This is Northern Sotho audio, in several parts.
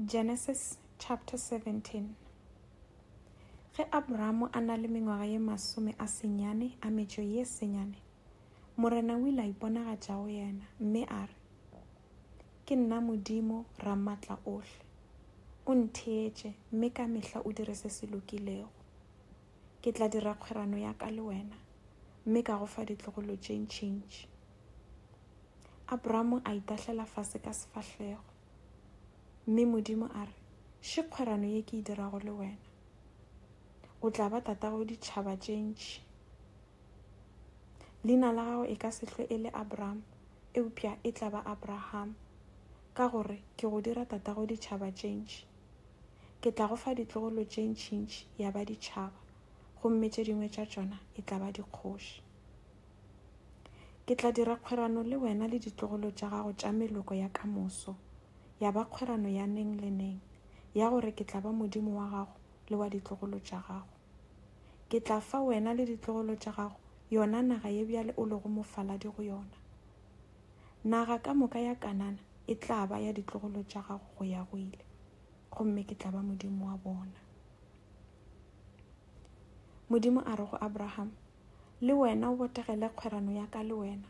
Genesis chapter 17 Ge Abramo a na le mengwaga ye masome a senyane a metšo ye senyane, Morena o ile a iponagatša go yena, mme a re, Ke nna Modimo Ramatla ohle. O ntheetše, mme ka mehla o dire se se lokilego. Ke tla dira kgwerano ya ka le wena, mme ka go fa ditlogolo tše ntšintši. Abramo a itahlela fase ka sefahlego, mme Modimo a re, Še kgwerano ye ke e dirago le wena. O tla ba tatago ditšhaba tše ntši. Leina la gago e ka se hlwe e le Abram, eupša e tla ba Abraham, ka gore ke go dira tatago ditšhaba tše ntši. Ke tla go fa ditlogolo tše ntšintši ya ba ditšhaba, gomme tše dingwe tša tšona e tla ba dikgoši. Ke tla dira kgwerano le wena le ditlogolo tša gago tša meloko ya ka moso, ya ba kgwerano ya neng le neng, ya gore ke tla ba Modimo wa gago le wa ditlogolo tša gago. Ke tla fa wena le ditlogolo tša gago yona naga ye bjale o lego mofaladi go yona. Naga ka moka ya Kanana e tla ba ya ditlogolo tša gago go ya go ile, gomme ke tla ba Modimo wa bona. Modimo a re go Abraham, Le wena o botegele kgwerano ya ka le wena,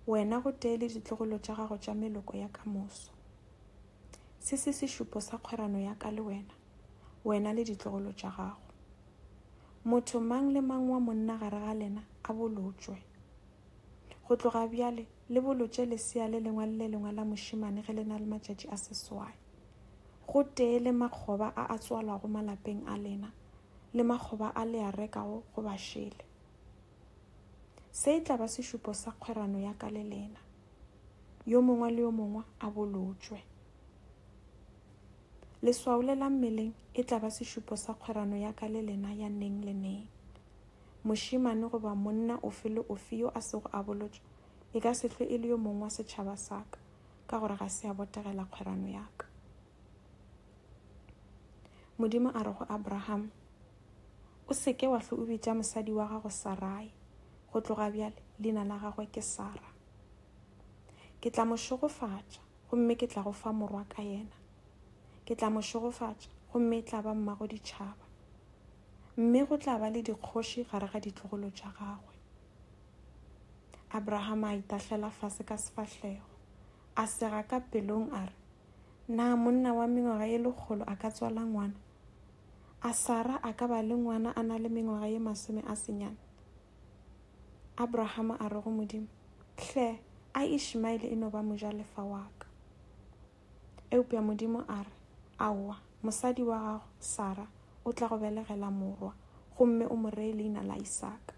wena gotee le ditlogolo tša gago tša meloko ya ka moso. Se se sešupo sa kgwerano ya ka le wena, wena le ditlogolo tša gago. Motho mang le mang wa monna gare ga lena a bolotšwe. Go tloga bjale le bolotše lesea le lengwe le le lengwe la mošemane ge le na le matšatši a seswai, gotee le makgoba a a tswalwago malapeng a lena, le makgoba a le a rekago go bašele. Se e tla ba sešupo sa kgwerano ya ka le lena. Yo mongwe le yo mongwe a bolotšwe. Leswao le la mmeleng e tla ba sešupo sa kgwerano ya ka le lena ya neng le neng. Mošemane goba monna ofe le ofe yo a sego a bolotšwa e ka se hlwe e le yo mongwe wa setšhaba sa ka, ka gore ga se a botegela kgwerano ya ka. Modimo a re go Abraham, O seke wa hlwe o bitša mosadi wa gago Sarai, go tloga bjale leina la gagwe ke Sara. Ke tla mo šogofatša, gomme ke tla go fa morwa ka yena. Ke tla mo šogofatša, gomme e tla ba mmago ditšhaba. Mme go tla ba le dikgoši gare ga ditlogolo tša gagwe. Abraham a itahlela fase ka sefahlego, a sega ka pelong a re, Na monna wa mengwaga ye lekgolo a ka tswala ngwana? A Sara a ka ba le ngwana a na le mengwaga ye masome a senyane? Abrahama a re go Modimo, Hle, a Ishmaele e no ba mojalefa wa ka. Eupša Modimo a re, Aowa, mosadi wa gago, Sara, o tla go belegela morwa, gomme o mo ree leina la Isaka.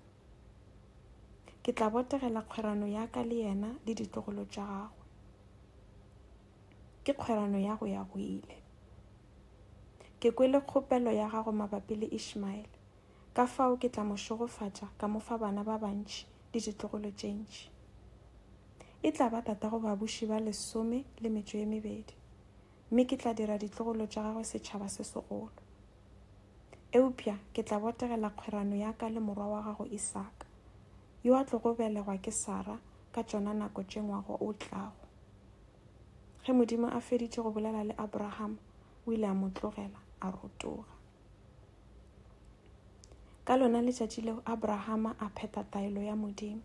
Ke tla botegela kgwerano ya ka le yena le ditlogolo tša gagwe. Ke kgwerano ya go ya go ile. Ke kwele kgopelo ya gago mabapi le Ishmaele, ka fao ke tla mo šogofatša ka mo fa bana ba bantši le ditlogolo tše ntši. E tla ba tatago babuši ba lesome le metšo ye mebedi, mme ke tla dira ditlogolo tša gagwe setšhaba se segolo. Eupša ke tla botegela kgwerano ya ka le morwa wa gago Isaka, yo a tlogo belegwa ke Sara ka tšona nako tše ngwaga o tlago. Ge Modimo a feditše go bolela le Abrahama, o ile a mo tlogela a rotoga. Ka lona letšatši leo Abrahama a phetha taelo ya Modimo,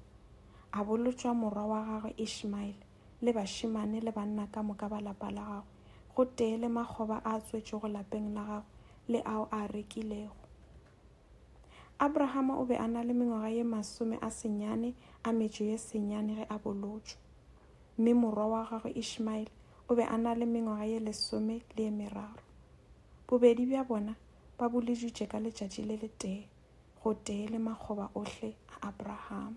a bolotšwa morwa wa gagwe Ishmaele le bašemane le banna ka moka ba lapa la gagwe, gotee le makgoba a a tswetšwego lapeng la gagwe le ao a a rekilego. Abrahama o be a na le mengwaga ye masome a senyane a metšo ye senyane ge a bolotšwe, mme morwa wa gagwe Ishmaele o be a na le mengwaga ye lesome le ye meraro. Bobedi bja bona ba boliditšwe ka letšatši le letee, gotee le makgoba ohle a Abrahama.